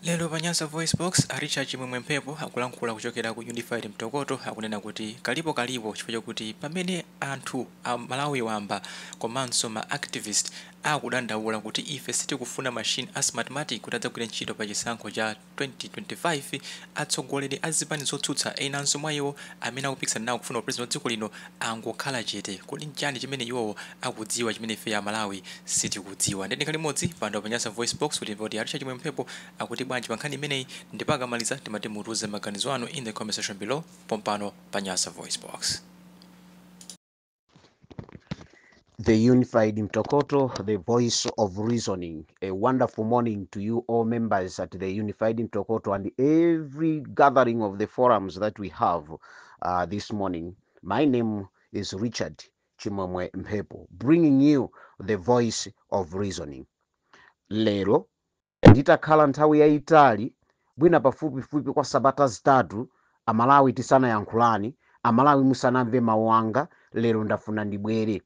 Lero pa Nyasa VoiceBox, a Richard Chimwemwe Mphepo akulankhula kuchokera ku Unified Mtokoto akunena kuti kalipo kalipo chifukwa chakuti pamene anthu a Malawi wamba komanso ma activist akudandaula kuti ife sitikufuna machine a Smartmatic kuti adzagwire ntchito pa chisankho cha 2025, atsogoleri a zipani zotsutsa enanso mwa iwo amene akupikisana nawo kufuna upresident wa dziko lino angokhala chete. Kodi nchiyani chimene iwowo akudziwa chimene ifeyo amalawi sitikudziwa nde tikhale limodzi pano pa Nyasa VoiceBox kuti timve kuti a Richard Chimwemwe Mphepo akuti bwanji pa nkhani imeneyi ndipo akamaliza timati mutiuze maganizo anu in the comment section below pompano pa Nyasa VoiceBox The Unified Mtokoto, the voice of reasoning. A wonderful morning to you, all members at the Unified Mtokoto and every gathering of the forums that we have uh, this morning. My name is Richard Chimwemwe Mphepo bringing you the voice of reasoning lero nditakhala nthawi yayitali mwina pafupifupi kwa sabata zitatu amalawi tisanayankhulane, amalawi musanamve mawu anga lero ndafuna ndibwere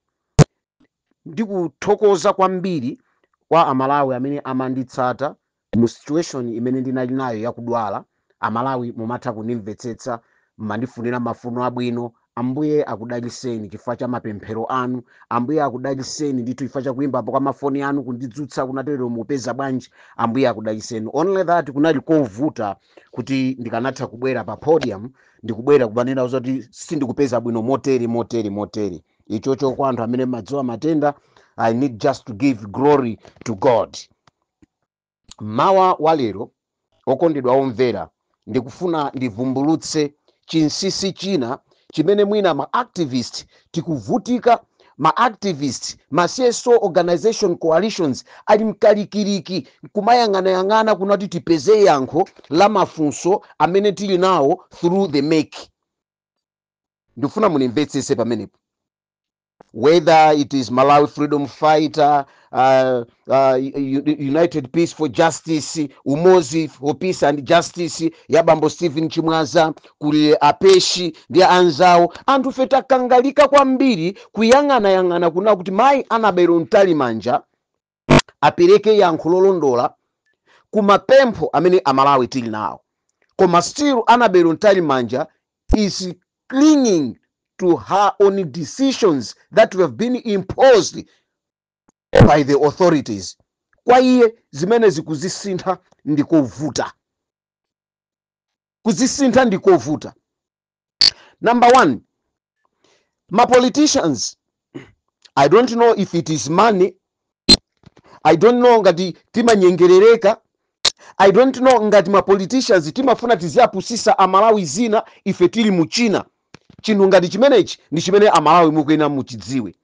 ndikuthokoza kwambiri kwa amalawi amene amanditsata Mu situation imene ndinali nayo ya kudwala, a Malawi mumatha kundimvetsetsa, mmandifunira mafuno abwino, Ambuye akudaliseni chifukwa cha mapemphero anu, Ambuye akudaliseni ndithu chifukwa cha kuimbapo kwa ma foni anu kundidzutsa kunena kuti lero mukupeza bwanji, Ambuye akudaliseni. Only that kunali kovuta kuti ndikanatha kubwera pa podium ndikubwera kumanena zoti sindikupeza bwino motere motere motere. Ichocho kwa anthu amene mmadziwa matenda, I need just to give glory to God. Mmawa wa lero, okondedwa omvera, ndikufuna ndivumbulutse chinsinsi china chimene mwina ma activist tikuvutika, ma activist, ma CSO organization coalitions ali mkalikiliki kumayang'anayang'ana kunena kuti tipeze yankho la mafunso amene tili nawo through the MEC. Ndikufuna mundimvetsetse pamenepo. whether it is Malawi Freedom Fighter, uh, uh, U- U- United Peace for Justice, Umozi for Peace and Justice, ya bambo Stephen Chimwaza, kuli apeshi ndi anzawo anthufe takangalika kwambiri kuyang'anayang'ana kunena kuti mayi Annabel Mtalimanja apereke yankho lolondola ku mapempho amene amalawi tili nawo koma still Annabel Mtalimanja is clinging to her own decisions that have been imposed by the authorities kwa iye zimenezi kuzisintha ndikovuta kuzisintha ndikovuta number one ma politicians i don't know if it is money i don't know ngati timanyengerereka i don't know ngati ma politicians timafuna tiziyapusisa amalawi zina ife tili mu china chinthu ngati chimenechi ndi chimene amalawi mukuyenera muchidziwe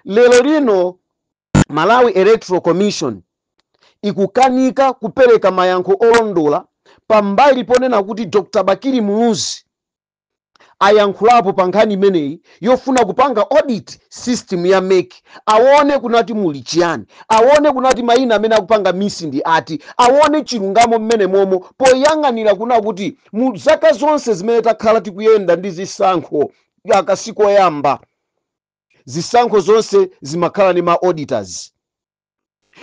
lero lino Malawi Electoral Commission ikukanika kupereka mayankho olondola pambali ponena kuti Dr Bakili Muluzi ayankhulapo pa nkhani imeneyi yofuna kupanga audit system ya mec awone kunati muli chiyani, awone kunati mayina amene akupanga miss ndi ati, awone chilungamo m'menemomo poyang'anira kuna kuti mu zaka zonse zimene takhala tikuyenda ndi zisankho aka sikoyamba. zisankho zonse zimakhala ndi ma auditors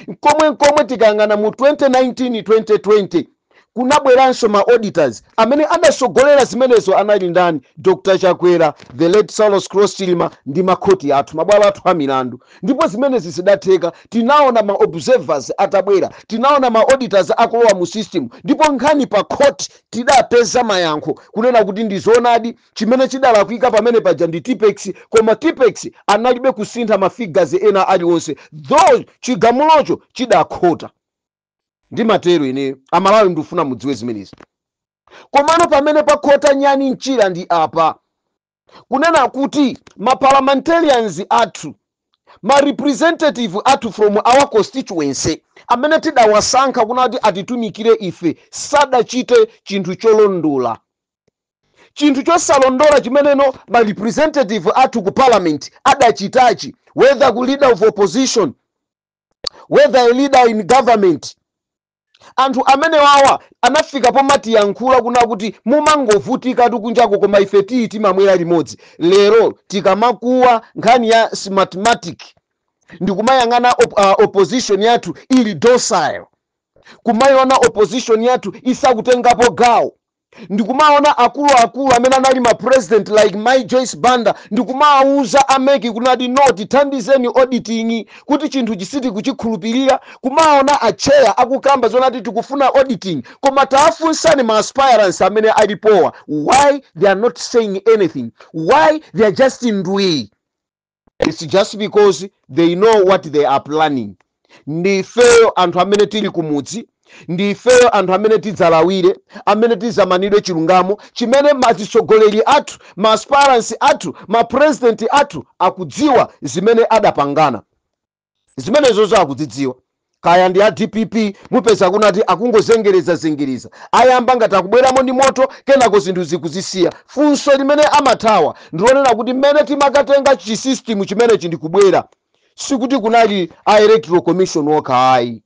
nkomwe nkomwe tikayang'ana mu 2019 2020 kunabweranso ma auditors amene adasogolera zimenezo anali ndani dr chakwera the late saulos klaus chilima ndi makhoti athu mabwalo athu a milandu ndipo zimenezi zidatheka tinaona ma observers atabwera tinaona ma auditors akulowa mu system ndipo nkhani pa court tidapeza mayankho kunena kuti ndi zoonadi Chimene chidalakwika pamene paja ndi tippex koma tippex analibe kusintha ma figures ena aliwonse though chigamulocho chidakhota. Ndimatero ineyo. Amalawi ndufuna mudziwe zimenezi. Komano pamene pakhota nyani mchira ndi apa. Kunena kuti ma parliamentarians athu, ma representative athu from our constituency amene tidawasankha kunati atitumikire ife sadachite chinthu cholondola. chinthu chosalondola chimeneno ma representative athu ku parliament adachitachi whether ku leader of opposition whether a leader in government anthu amenewawa anafika pomatiyankhula kuna kuti mumangovutikatu kunjako koma ife tiyi timamwera limodzi lero tikamakuwa nkhani ya smartmatic ndikumayang'ana opposition yathu ili docile kumayiona opposition yathu isakutengapo gawo ndikumaona akulu akulu amene anali ma president like mai joyce banda ndikumawuza a mec kunati no tithandizeni auditing kuti chinthuchi sitikuchikhulupirira kumaona a chair akukamba zonati tikufuna auditing koma taafunsani ma aspirants amene alipowa why they are not saying anything why they are just ndwii its just because they know what they are planning ndi ifeyo anthu amene tili kumudzi ndi ifeyo anthu amene tidzalawire amene tidzamanidwe chilungamo chimene mazitsogoleri athu ma aspirants athu ma president athu akudziwa zimene adapangana zimenezo zakudzidziwa kaya ndi a dpp mupeza kunena kuti akungozengereza zengereza ayamba ngati akubweramo ndi moto kenako zinthu zikuzisiya funso limene amathawa ndilonena kuti mmene timakatenga chisystem chimenechi ndikubwera sikuti kunali a electoral commission okha ayi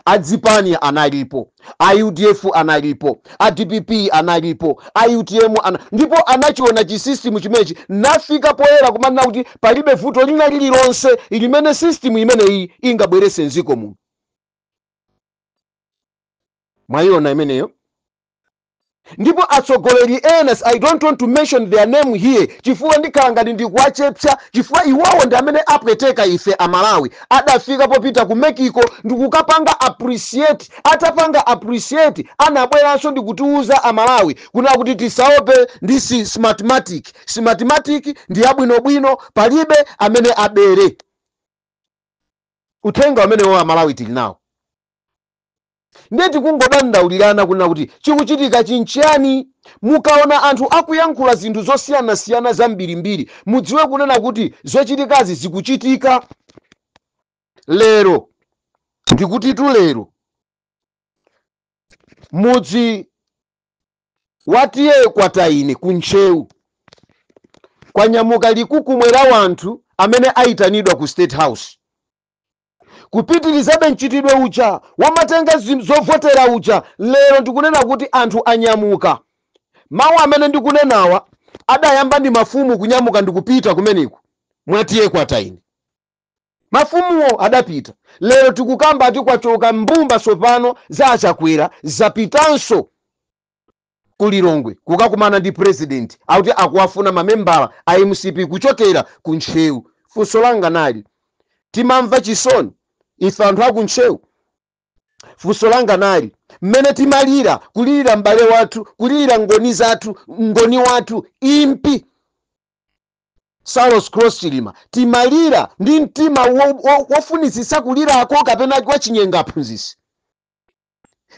azipani analipo a udf analipo a dpp analipo a utm ndipo anachiona chisystem chimenechi nafika poyera kumanena kuti palibe vuto lina lililonse limene system imeneyi ingabwerese mdziko muno mwaiona imeneyo ndipo atsogoleri ena s- i don't want to mention their name here chifukwa ndikhala ngati ndikuwachepsa chifukwa iwowo ndi amene apweteka ife amalawi adafika popita ku mexico ndikukapanga appreciate atapanga appreciate anabweranso ndikutiuza amalawi kunena kuti tisaope ndi si- smartmatic smartmatic ndi yabwinobwino palibe amene abere uthenga umenewo amalawi tili nawo Ndiye tikungodandaulirana kunena kuti chikuchitikachi nchiyani? Mukaona anthu akuyankhula zinthu zosiyanasiyana zambirimbiri, mudziwe kunena kuti zochitikazi zikuchitika lero. Ndikutitu lero mudzi wa TA Kwataine ku Ntcheu kwanyamuka likukumwe la wanthu amene aitanidwa ku State House. kupitirizabe mchitidwe uja womatenga zim- zovotera uja lero ndikunena kuti anthu anyamuka mawu amene ndikunenawa adayamba ndi mafumu kunyamuka ndikupita kumeneko mwa ta kwataine mafumuwo adapita lero tikukamba ati kwachoka mbumba tsopano za achakwera zapitanso ku Lilongwe kukakumana ndi president akuti akuwafuna mamembala a mcp kuchokera ku Ntcheu. Funso langa nali, timamva chisoni ife anthu aku Ntcheu? Funso langa nali, mmene timalira kulirira m'bale wathu, kulirira ngoni zathu, mngoni wathu impi Saulos Klaus Chilima, timalira ndi mtima wo- wo- wofunitsitsa kulirako kapena kwachinyengo aphunzitsi?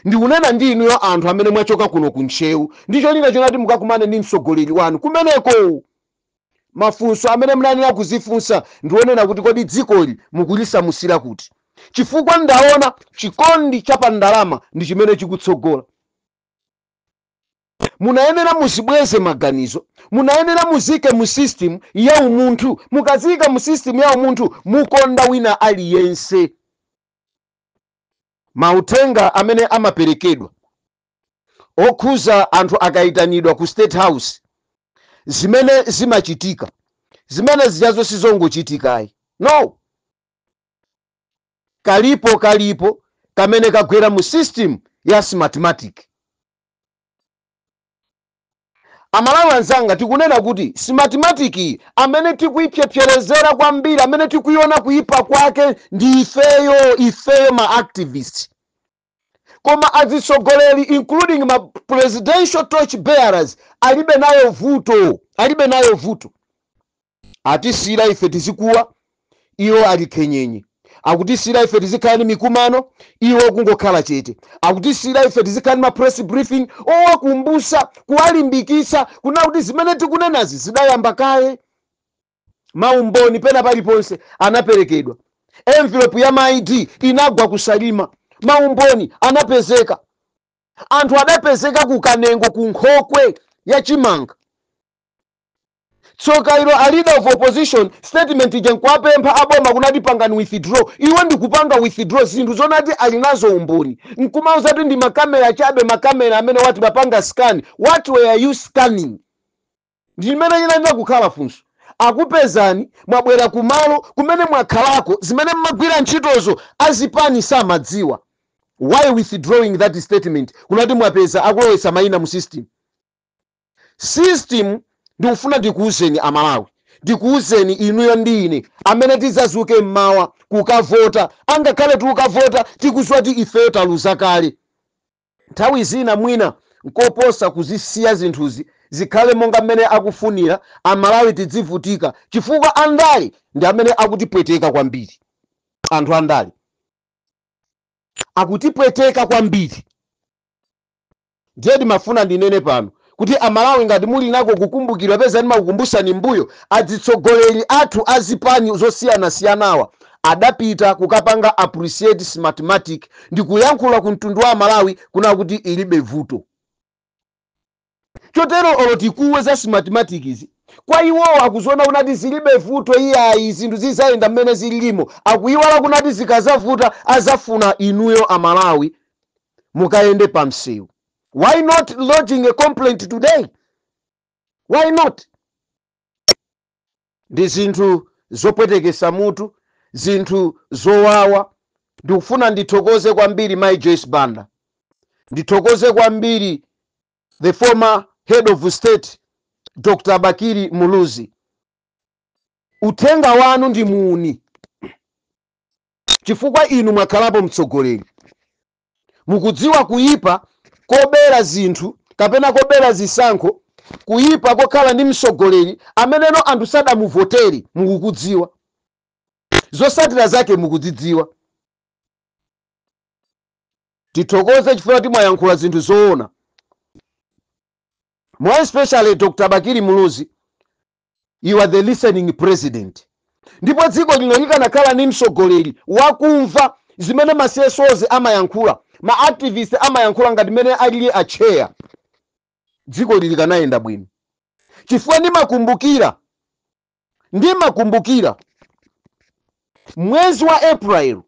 Ndikunena ndi inuyo anthu amene mwachoka kuno ku Ntcheu ndi cholinga chonena kuti mukakumane ndi mtsogoleri wanu kumeneko. Mafunso amene munayenera kuzifunsa ndi onena kuti kodi dzikoli mukulisamusira kuti? Chifukwa ndaona chikondi cha pa ndalama ndi chimene chikutsogola. Munayenera muzibweze maganizo. Munayenera muziike mu system ya umunthu. Mukaziika mu system ya umunthu mukonda wina aliyense. Mauthenga amene amaperekedwa okhuza anthu akaitanidwa ku state house zimene zimachitika zimene zijazo sizongochitika ayi no kalipo kalipo kamene kagwera mu system ya smartmatic. Amalawi anzanga tikunena kuti smartmatic iyi amene tikuipsyepsyerezera kwambiri amene tikuiona kuipa kwake ndi ifeyo ifeyo ma activist koma azitsogoleri including ma presidential torch bearers alibe nayo vuto alibe nayo vuto atisiyira ife tizikuwa iwo ali khenyenye akutisiyira ife tizikhala ndi mikumano iwo kungokhala chete akutisiyira ife tizikhala ndi ma press briefing owakumbusa kuwalimbikitsa kuna kuti zimene tikunenazi zidayamba kaye maumboni pena paliponse anaperekedwa envelope ya ma ID inagwa ku Salima maumboni anapezeka anthu adapezeka ku Kanengo ku nkhokwe ya chimanga Tsoka ilo a leader of opposition statement ija nkuwapempha a boma kunati pangani withdraw. Iwo ndi kupanga withdraw zinthu zonati ali nazo umboni. Nkumauza kuti ndi ma camera chabe ma camera amenewa ati amapanga scan. What were you scanning? Ndi imene inayenera kukhala funso. Akupezani mwabwera ku malo kumene mwakhalako zimene mmagwira ntchitozo a zipani samadziwa. Why withdrawing that statement kunati mwapeza akulowetsa maina mu system? system ndikufuna ndikuuzeni amalawi ndikuuzeni inuyo ndi ine amene tizazuke mmawa kukavota angakhale tikukavota tikuziwa kuti ifeyo taluza kale nthawi zina mwina nkoposa kuzisiya zinthuzi zikhale monga mmene akufunira amalawi tidzivutika chifukwa andale ndi amene akutipweteka kwambiri anthu andale akutipweteka kwambiri Ndiye ndimafuna ndinene pano kuti a Malawi ngati muli nako kukumbukira peza ndimakukumbusani m'mbuyo, adzitsogoleri athu a zipani zosiyanasiyanawa adapita kukapanga appreciate Smartmatic ndikuyankhula ku mtundu wa a Malawi kuna kuti ilibe vuto. Chotero olo tikuwe za Smartmatic zi, kwa iwowo akuziona kunati zilibe vuto iyayi zinthu zizayenda m'mene zililimo akuyiwala kunati zikazavuta azafuna inuyo a Malawi mukayende pa msewu why not lodging a complaint today why not ndi zinthu zopwetekesa mutu zinthu zowawa ndikufuna ndithokoze kwambiri mai joyce banda ndithokoze kwambiri the former head of state dr bakili muluzi uthenga wanu ndi muuni chifukwa inu mwakhalapo mtsogoleri. Mukudziwa kuyipa kobera zinthu kapena kobera zisankho, kuyipa kokhala ndi mtsogoleri ameneno anthu sadamuvotere mukukudziwa. Zosatira zake mukudzidziwa. Tithokoze chifukwa choti mwayankhula zinthu zoona. More especially Dr. Bakili Muluzi you are the listening president ndipo dziko lino likanakhala ndi mtsogoleri wakumva zimene ma CSOs amayankhula ma activist amayankhula ngati mmene alili acheya dziko lino likanayenda bwino chifukwa ndimakumbukira ndimakumbukira mwezi wa april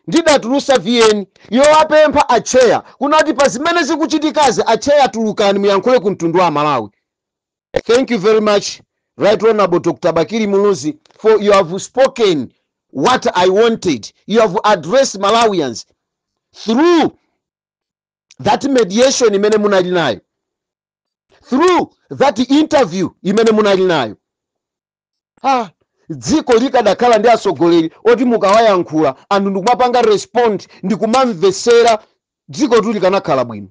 ndidatulusa vn yowapempha acheya kunati pa zimene zikuchitikazi acheya tulukani muyankhule ku mtundu wa amalawi Thank you very much, Right Honorable Dr. Bakili Muluzi, for you have spoken what I wanted. You have addressed Malawians through that mediation imene munali nayo, through that interview imene munali nayo. Ah, dziko likadakhala ndi atsogoleri oti mukawayankhula anthu ndikumapanga respond ndikumamvetsera dzikotu likanakhala bwino.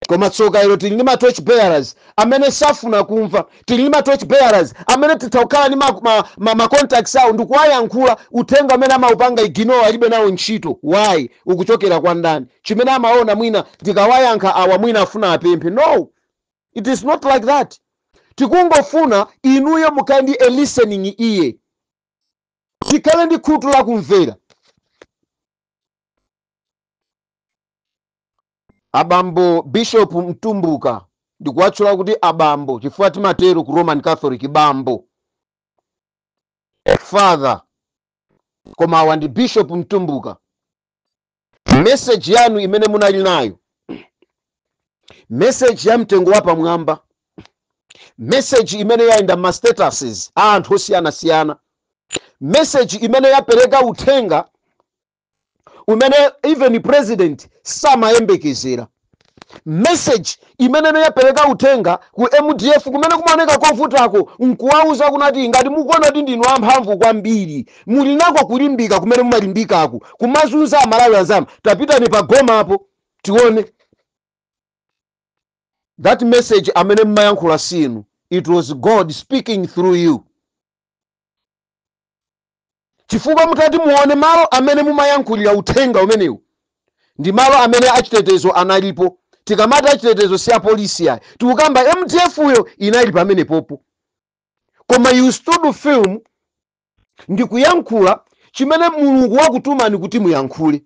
koma tsoka ilo tili ndi ma torch bearers amene safuna kumva tili ndi ma torch bearers amene titha kukhala ndi ma, ma, ma, ma contacts awo ndikuwayankhula uthenga amene amaupanga ignore alibe nawo ntchito why ukuchokera kwa ndani chimene amaona mwina ndikawayankha awa mwina afuna apemphe no it is not like that tikungofuna inuyo mukhale ndi a listening ear tikhale ndi khutu lakumvera Abambo Bishop Mtumbuka ndikuwatchula kuti abambo chifukwa timatero ku Roman Catholic bambo father koma awa ndi Bishop Mtumbuka message yanu imene munali nayo message ya mtengo wapamwamba message imene yayenda ma statuses a anthu osiyanasiyana message imene yapereka uthenga umene even president samayembekezera message imene yapereka uthenga ku mdf kumene kumaoneka kovutako nkuwauza kunati ngati mukuona kuti ndinu amphamvu kwambiri muli nako kulimbika kumene mumalimbikako kumazunza amalawi anzanu tapitani pa goma apo tione that message amene mmayankhula si inu it was god speaking through you chifukwa mutati muone malo amene mumayankhulira uthenga umenewu ndi malo amene achitetezo analipo. Tikamati achitetezo si apolisi ayi, tikukamba mdf yo inali pamenepopo. Koma you stood firm ndi kuyankhula chimene Mulungu wakutumani kuti muyankhule.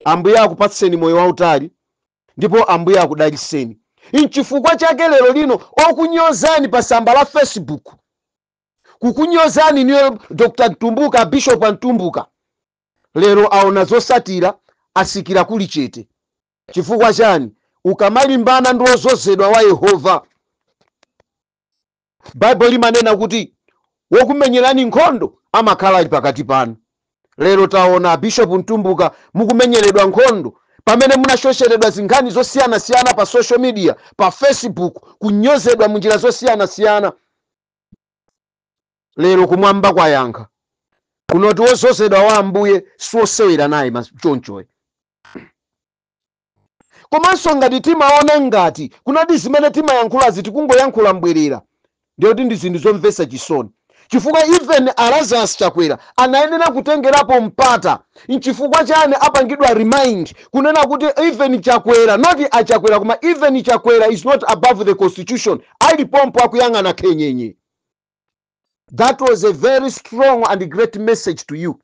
Ambuye akupatseni moyo wautali ndipo Ambuye akudaliseni. N'chifukwa chake lero lino okunyozani pa tsamba la Facebook kukunyozani inuyo dr mtumbuka abishop a mtumbuka lero aona zotsatira atsikira kuli chete chifukwa chani ukamalimbana ndi wodzozedwa wa yehova baibulo limanena kuti wokumenyerani nkhondo amakhala ali pakati panu lero taona abishopu mtumbuka mukumenyeredwa nkhondo pamene munashosholedwa zinkhani zosiyanasiyana pa social media pa facebook kunyozedwa munjira zosiyanasiyana lero kumwamba kwayankha kunena kuti wodzozedwa wa ambuye siwosewera naye chonchoyo komanso ngati timaona ngati kunena kuti zimene timayankhulazi tikungoyankhula mbwerera ndiye kuti ndi zinthu zomvetsa chisoni chifukwa even alazarus chakwera anayenera kutengerapo mpata nchifukwa chani apangidwa remind kunena kuti even chakwera not achakwera koma even chakwera is not above the constitution ali pompo akuyang'ana khenyenye that was a very strong and great message to you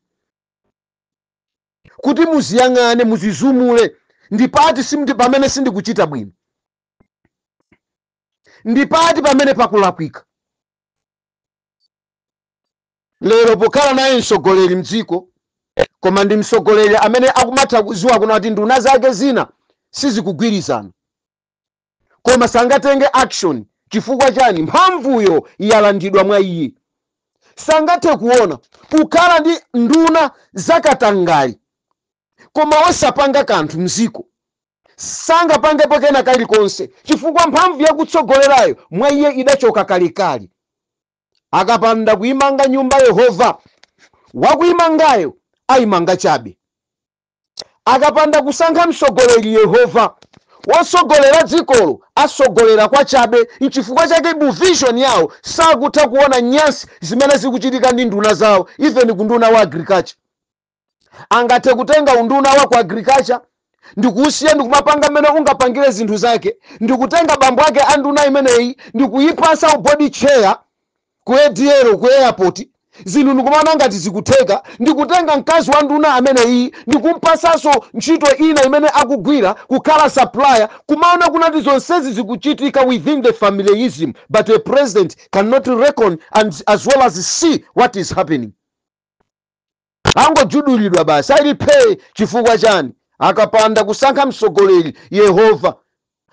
kuti mudziyang'ane mudzidzumule ndipati simndi pamene sindikuchita bwino ndipati pamene pakulakwika lero pokhala naye mtsogoleri mdziko koma ndi mtsogoleri amene akumatha kudziwa kunena kuti nduna zake zina sizikugwirizana koma sangatenge action chifukwa chani mphamvuyo yalandidwa mwa iye sangathe kuona kukhala ndi nduna zakatangale koma osapanga kanthu mdziko sangapangepo kena kalikonse chifukwa mphamvu yakutsogolerayo mwa iye idachoka kalekale akapanda kuimanga nyumba yehova wakuimangayo ayimanga chabe akapanda kusankha mtsogoleri yehova wotsogolera dzikolo atsogolera kwachabe nchifukwa chake mu vision yawo sakutha kuona nyansi zimene zikuchitika ndi nduna zawo even kunduna wa agriculture angathe kutenga unduna wa ku agriculture ndikuusiya ndikumapanga mmene ungapangire zinthu zake ndikutenga bambo ake a nduna imeneyi ndikuyipatsa uboard chair ku ADL ku airport zinthu ndikumaona ngati zikutheka ndikutenga mkazi wa nduna ameneyiyi ndikumpatsanso ntchito ina imene akugwira kukhala supplier kumaona kunati zonsezi zikuchitika within the familism but a president cannot reckon and as well as see what is happening Angogudulidwa basi ali phee chifukwa chani? Akapanda kusankha mtsogoleri Yehova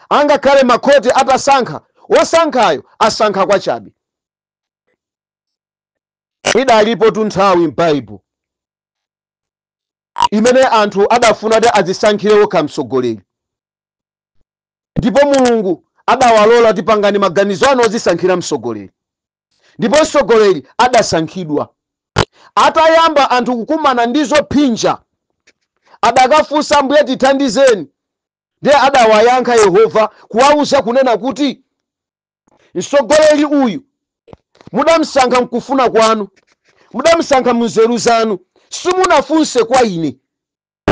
angakhale makhoti atasankha wosankhayo asankha kwachabe. Idalipotu nthawi m'Baibulo imene anthu adafuna kuti adzisankhire wokha mtsogoleri ndipo Mulungu adawalola kuti pangani maganizo anu odzisankhira mtsogoleri. ndipo mtsogoleri adasankhidwa. Atayamba anthu kukumana ndi zophinja, adakafunsa Ambuye, Tithandizeni. Ndiye adawayankha Yehova kuwauza kunena kuti, Mtsogoleri uyu mudamsankha mkufuna kwanu, mudamsankha munzeru zanu, simunafunse kwa ine.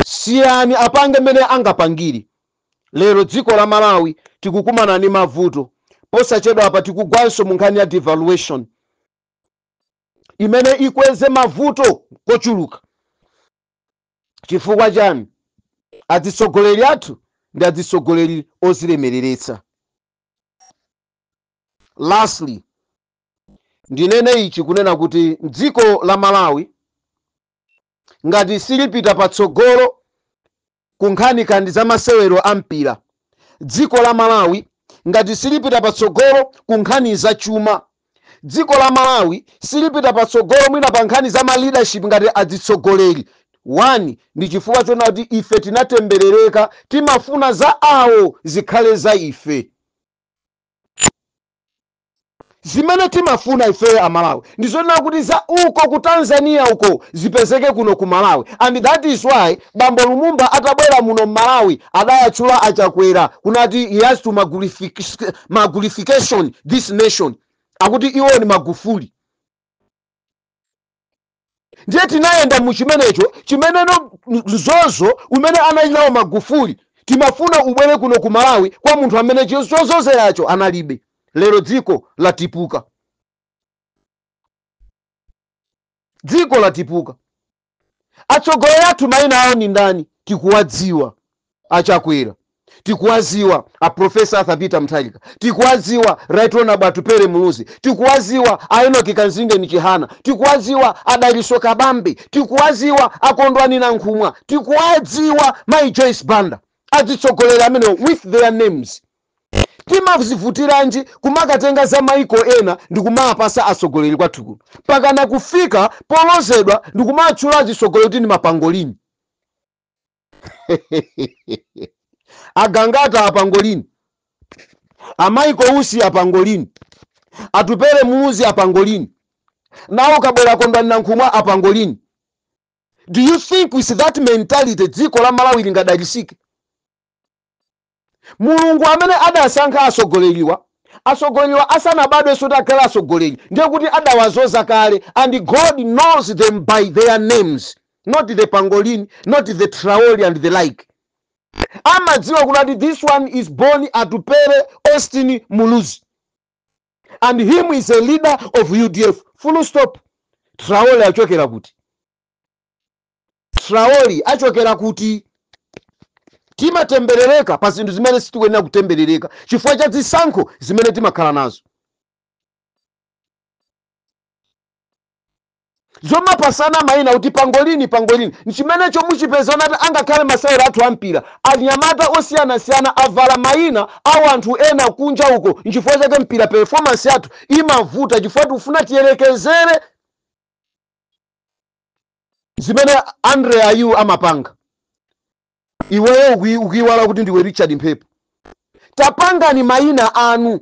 siyani apange mmene angapangire lero dziko la malawi tikukumana ndi mavuto posachedwapa tikugwanso munkhani ya devaluation imene ikweze mavuto kochuluka chifukwa chani adzitsogoleri athu ndi adzitsogoleri ozilemereretsa lastly ndinene ichi kunena kuti dziko la malawi ngati silipita patsogolo ku nkhani kandi za masewero a mpira dziko la malawi ngati silipita patsogolo ku nkhani za chuma dziko la malawi silipita patsogolo mwina pa nkhani za ma leadership ngati adzitsogoleri wani ndi chifukwa chona kuti ife tinatemberereka timafuna za awo zikhale za ife Zimene timafuna ifeyo a Malawi ndi zonena kuti za uko ku Tanzania uko zipezeke kuno ku Malawi and that is why bambo Lumumba atabwera muno Mmalawi adawatchula a Chakwera kunati he has to Magufulification this nation akuti iwo ni Magufuli. ndiye tinayenda mu chimenecho chimeneno mzozo umene anali nawo magufuli timafuna ubwere kuno ku malawi kwa munthu amene chozozeracho analibe lero dziko latipuka dziko latipuka atsogoleri athu mayina awo ndi ndani tikuwadziwa a Chakwera tikuwaziwa a profesa Arthur Peter Mutharika tikuwaziwa right honorable Atupele Muluzi tikuwaziwa a Enock Kamzingeni Chihana tikuwaziwa a Dalitso Kabambe tikuwaziwa a Kondwani Nankhumwa tikuwadziwa mai Joyce Banda azitsogoleri amenewo with their names timazivutiranji kumakatenga za maiko ena ndi kumapatsa atsogoleri kwathu kuno pakana kufika polozedwa ndi kumatchula atsogoleri kuti ndi mapangolini a Gangata apangolini a Michael Usi apangolini Atupele Muluzi apangolini nawo kabwera Kondwani Nankhumwa apangolini do you think with that mentality dziko la Malawi lingadalitsike Mulungu amene adasankha atsogoleriwa atsogoleriwa asanabadwenso kuti akhale atsogoleri ndiye kuti adawadzoza kale and God knows them by their names not the pangolin not the Traore and the like amadziwa kuti ati this one is born Atupele Austin Muluzi and him is a leader of UDF full stop Traore achokera kuti Traore achokera kuti? Timatemberereka pa zinthu zimene sitikuyenera kutemberereka chifukwa cha zisankho zimene timakhala nazo. zomapatsana mayina kuti pangolini pangolini nchimenecho muchipeza kuti angakhale masewero athu a mpira anyamata osiyanasiyana avala mayina a wanthu ena kunja uko nchifukwa chake mpira performance yathu imavuta chifukwa tikufuna tiyerekezere zimene Andre Ayew amapanga iweyo ukui- ukuiwala kuti ndiwe Richard Mphepo tapangani mayina anu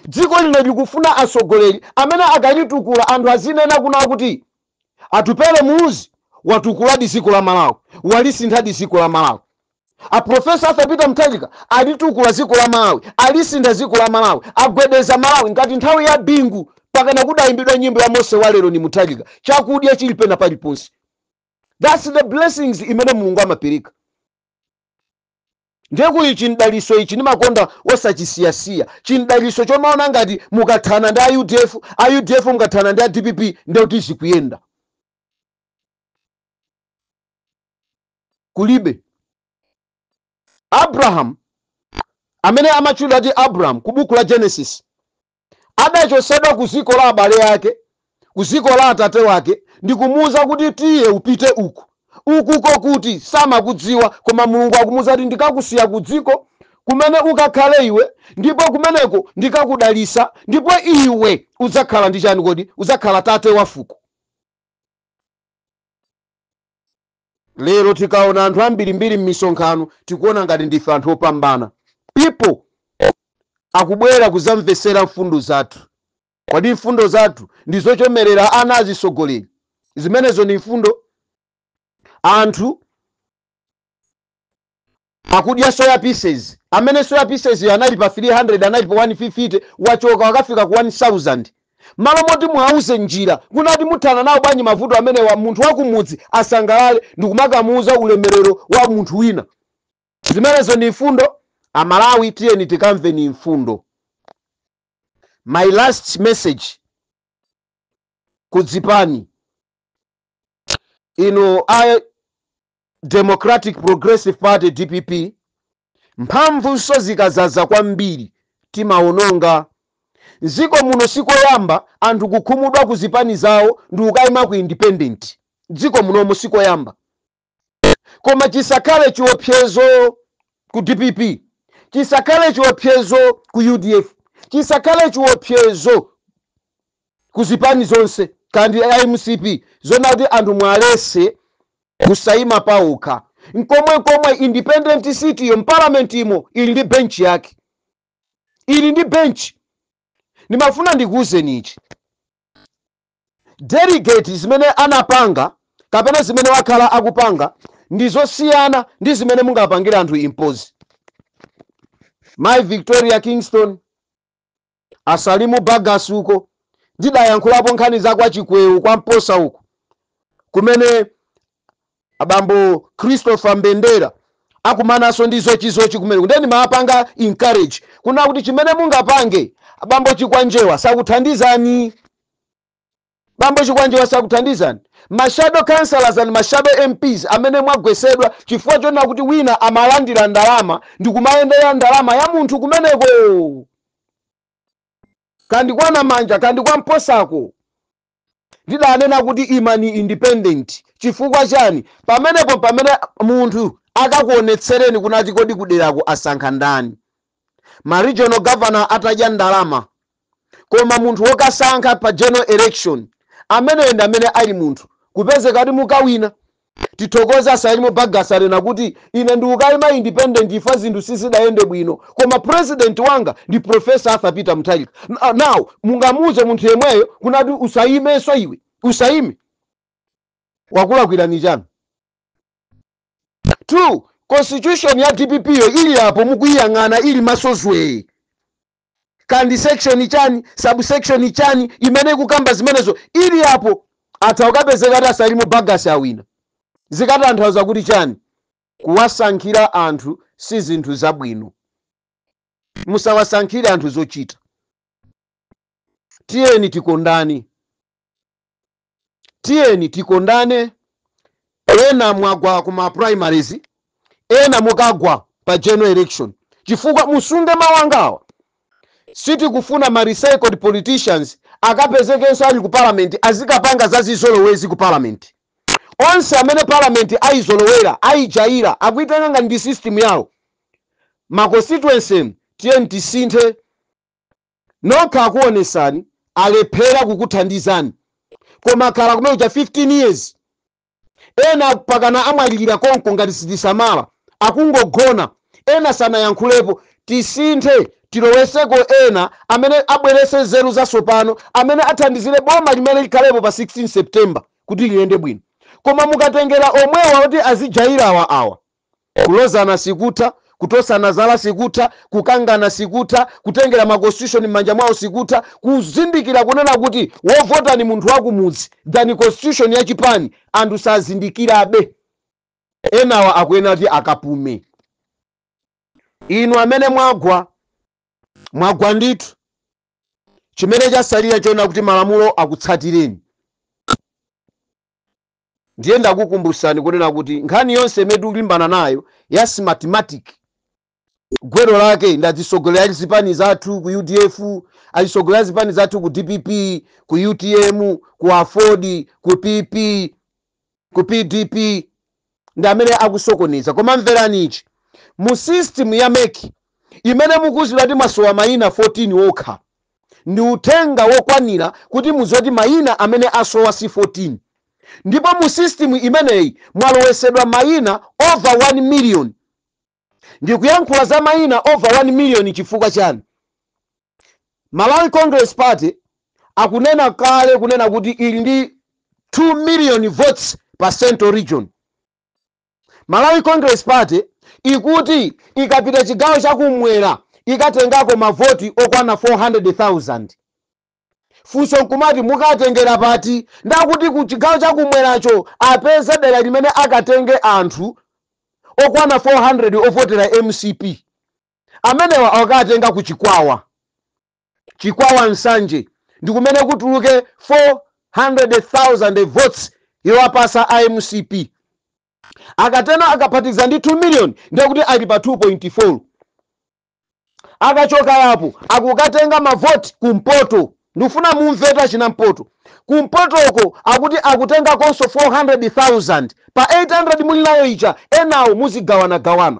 dziko lino likufuna atsogoleri amene akalitukula anthu azinena kuti Atupele Muluzi watukuladi dziko la Malawi walisinthadi dziko la Malawi A professor Arthur Peter Mutharika alitukula ziko la Malawi, alisintha ziko la Malawi, agwedeza Malawi ngati nthawi ya Bingu pakana kudayimbidwa nyimbo ya Mose wa lero ni Mutharika, chakudya chili pena paliponse. That's the blessings imene Mulungu amapereka. Ndiye kuli chimdalitso ichi ndimakonda osachisiyasiya chimdalitso chomaona ngati mukathana ndi a UDF, a UDF mukathana ndi a DPP ndiye kuti zikuyenda. kulibe. Abrahamu amene amatchulidwa ati Abrahamu ku buku la Genesis adachotsedwa ku dziko la abale ake, ku dziko la atate wake ndi kumuuza kuti tiye upite uku. Ukuko kuti samakudziwa koma Mulungu akumuuza kuti ndikakusiya ku dziko kumene ukakhale iwe ndipo kumeneko ndikakudalitsa ndipo iwe udzakhala ndi chani kodi? Udzakhala tate wa fuko. lero tikaona anthu ambirimbiri m'misonkhano tikuona ngati ndife anthu opambana people akubwera kuzamvetsera mfundo zathu kodi mfundo zathu ndi zochemerera ana azitsogoleri zimenezo ndi mfundo anthu akudya soya pieces amene soya pieces yo anali pa 300 anali pa 150 wachoka wakafika ku 1000 malo moti muwauze njira kunati muthana nawo bwanji mavuto amenewa munthu wakumudzi asangalale ndikumakamuuza ulemerero wa munthu wina zimenezo ndi mfundo amalawi tiyeni tikamve ndi mfundo my last message ku chipani inu a Democratic Progressive Party, dpp, Mphamvunso zikazaza kwambiri timawononga. Mdziko muno sikoyamba anthu kukhumudwa ku zipani zawo ndikukaima ku independent. Mdziko munomu sikoyamba. Koma chisakhale chiopsezo ku dpp, chisakhale chiopsezo ku udf, chisakhale chiopsezo. ku zipani zonse kaya ndi a mcp zoona kuti anthu muwalese kusayima paokha nchomwe nchomwe independent seat iyo mpalamentimo ili ndi benchi yake ili ndi benchi ndimafuna ndikuwuzeni ichi delegate zimene anapanga kapena zimene wakhala akupanga ndi zosiyana ndi zimene mungapangire anthu impose mai victoria kingston A Salimu Bagus uko ndidayankhulapo nkhani za kwa Chikwewu kwa Mposa uko kumene abambo Christopher Mbendera akumananso ndi zochizochi kumene ndiye ndimawapanga encourage kuna kuti chimene mungapange abambo Chikwanjewa sakuthandizani Bambo chikwanjewa sakuthandizani ma shadow councillors and ma shadow mps amene mwagwesedwa chifukwa chonena kuti wina amalandira ndalama ndikumayendera ndalama ya munthu kumeneko kandi kwa namanja kandi kwa mposako ndidanena kuti imani independent chifukwa chani pamenepo pamene munthu akakuonetsereni kunati kodi kuderako asankha ndani ma regional governor atadya ndalama koma munthu wokasankha pa general election ameneyo ndi amene ali munthu kupezeka kuti mukawina tithokoze a salimu bagus anena kuti ine ndikukayima independent ifa zinthu sizidayende bwino koma president wanga ndi professor arthur peter mutharika now mungamuuze munthu yemweyo kunati usayimenso iwe usayime wakulakwirani chani 2, constitution ya dpp yo ili apo mukuyiyang'ana ili maso zwee kandi section chani subsection chani imene ikukamba zimenezo ili apo atha ukapezeka ati a salim bagus awina zikatanthauza kuti chani kuwasankhira anthu si zinthu zabwino musawasankhire anthu zochita tiyeni tikondane tiyeni tikondane ena mwagwa ku ma primaries ena mukagwa pa general election chifukwa musunge mawu angawa sitikufuna ma recycled politicians akapezekenso ali ku parliament azikapanga zazizolowezi ku parliament onse amene parliament ayizolowera ayijayira akuitenga ngati ndi system yawo ma constituency tiyeni tisinthe nokha akuonesani alephera kukuthandizani koma akhala kumene kuja 15 years ena pakana amwalilira konko ngati sitisamala akungogona ena sanayankhulepo tisinthe tiloweseko ena amene abwerese nzeru zasopano amene athandizire boma limene likhalepo pa 16 september kuti liyende bwino koma mukatengera omwewa kuti azijaira awa Kulozana sikutha, kutosana zala sikutha, kukangana sikutha, kutengera ma constitution mmanja mwawo sikutha, kuzindikira kunena kuti wovota ndi munthu wakumudzi than constitution ya chipani anthu sazindikirabe. Enawa akuyenera kuti akapume. Inu amene mwagwa, mwagwa ndithu. Chimene chasalira choona kuti malamulo akutsatireni. ndiye ndakukumbusani kunena kuti nkhani yonse imene tikulimbana nayo ya smartmatic gwero lake ndi azitsogoleri a zipani zathu ku udf azitsogoleri a zipani zathu ku dpp ku utm ku aford ku pp ku pdp ndi amene akusokoneza koma mverani ichi mu system ya mec imene mukuziwa kuti mwasowa mayina 14 okha ndi uthenga wokwanira kuti mudziwe kuti mayina amene asowa si 14 ndipo mu system imeneyi mwalowesedwa mayina over 1 million. Ndikuyankhula za mayina over 1 million chifukwa chani? Malawi Congress Party akunena kale kunena kuti ili ndi 2 million votes pa central region. Malawi Congress Party ikuti ikapita chigawo chakumwera ikatengako mavoti okwana 400,000. Funso nkumati mukatengera pati? Ndi akuti ku chigawo chakumweracho apeza dera limene akatenge anthu okwana 400 ovotera mcp. Amenewa akawatenga ku Chikwawa. Chikwawa Nsanje ndikumene kutuluke 400,000 votes yowapatsa a mcp. Akatenga akaphatikiza ndi 2 million ndiye kuti ali pa 2.4. Akachoka apo akukatenga ma vote ku mpoto. Ndikufuna mumvetu a kuna mpoto. Ku mpotoko akuti akutengakonso 400,000. Pa 800 muli nayo ija enawo muzigawana gawana.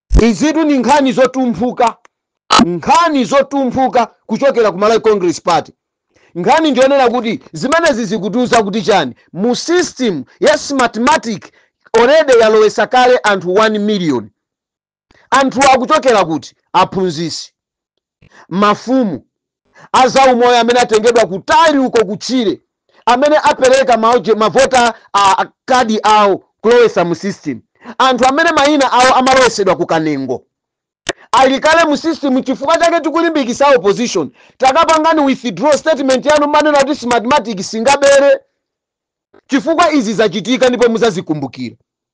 Izitu ndi nkhani zotumphuka, nkhani zotumphuka kuchokera ku Malawi Congress Party. Nkhani ndiyonena kuti zimenezi zikutiuza kuti chani? Mu system ya Smartmatic already yalowesa kale anthu 1 million. Anthuwa akuchokera kuti? Aphunzitsi. mafumu, a zaumoyo amene atengedwa kutali uko ku tchire, amene apereka mavota kadi awo kulowetsa mu system, anthu amene maina awo amalowetsedwa ku kanengo, ali kale mu system. Nchifukwa chake tikulimbikitsa a opposition, takapangani withdraw statement yanu mmanena kuti Smartmatic singabere, chifukwa izi zachitika ndipo mudzazikumbukira.